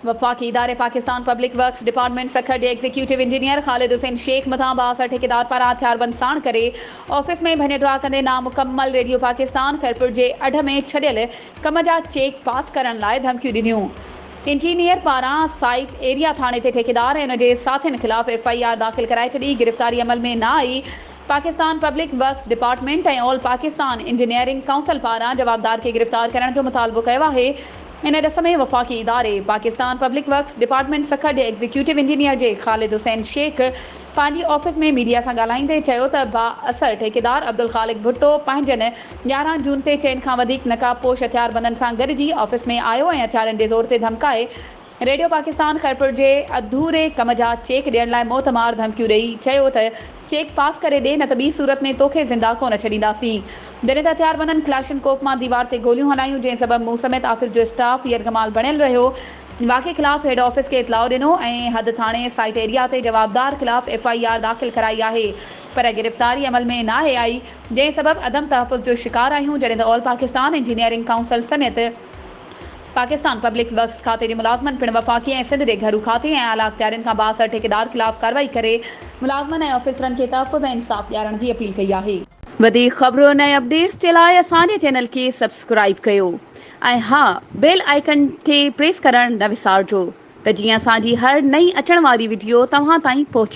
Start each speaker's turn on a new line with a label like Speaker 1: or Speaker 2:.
Speaker 1: وفاقي اداري Pakistan public works department Sukkur جي ايگزيڪيوٽو انجنيئر خالد حسين شيخ مٿان بااثر ٺيڪيدار پاران هٿياربند ساڻ ڪري آفيس ۾ ڀڃ ڊاهه ڪندي نامڪمل ريڊيو پاڪستان خيرپور جي اڍ ۾ ڇڏيل ڪم جا چيڪ پاس ڪرڻ لاء ڌمڪيون ڏنيون انجنيئر پاران سائيٽ ايريا ٿاڻي تي ٺيڪيدار ۽ ان جي ساٿين خلاف ايف آئي آر داخل ڪرائي ڇڏي گرفتاري عمل ۾ نه آئي Pakistan public works department ۽ all Pakistan engineering council پاران جوابدار کي گرفتار ڪرڻ جو مطالبو ڪيو آهي ان ڏس ۾ وفاقي اداري Pakistan public works department Sukkur جي ايگزيڪيوٽو انجنيئر جي خالد حسين شيخ پنهنجي آفيس ۾ ميڊيا سان ڳالهائيندي چيو ته بااثر ٺيڪيدار عبدالخالق ڀٽو پنهنجن يارهن جون تي چئن کان وڌيڪ نقاب پوش هٿياربندن سان گڏجي آفيس ۾ آيو ۽ هٿيارن جي زور تي ڌمڪائي ريڊيو پاڪستان خيرپور جي اڌوري ڪم جا چيڪ ڏيڻ لاء موت مار ڌمڪيون ڏئي چيو ته چيڪ پاس ڪري ڏي نه ته ٻي صورت ۾ توکي زنده ڪونه ڇڏينداسين. جڏهن ته هٿيار بندن ڪلاشن ڪوف مان ديوار تي گوليون هلايون جنهن سبب مون سميت آفيس جو اسٽاف يرغمال بڻيل رهيو. واقعي خلاف هيڊ آفيس کي اطلاع ڏنو ۽ حد ٿاڻي سائيٽ ايريا تي جوابدار خلاف ايف آء آر داخل ڪرائي آهي پر گرفتاري عمل ۾ ناهي آئي جنهن سبب عدم تحفظ جو شڪار آهيون جڏهن ته آل پاڪستان انجنيئرنگ ڪائونسل سميت پاڪستان پبلڪ ورڪس کاتي جي ملازمن پڻ وفاقي ۽ سنڌ جي گهرو کاتي ۽ اعليٰ اختيارين کان بااثر ٺيڪيدار خلاف ڪارروائي ڪري ملازمن ۽ آفيسرن کي تحفظ ۽ انصاف ڏيارڻ جي اپيل ڪئي آهي. وڌيڪ خبرن ۽ اپڊيٽس جي لاء اسان جي چينل کي سبسڪرائيب ڪيو ۽ ها بيل آئيڪن کي پريس ڪرڻ نه وسارجو ته جيئن اسان جي هر نئين اچڻ واري وڊيو توهان تائين پهچي.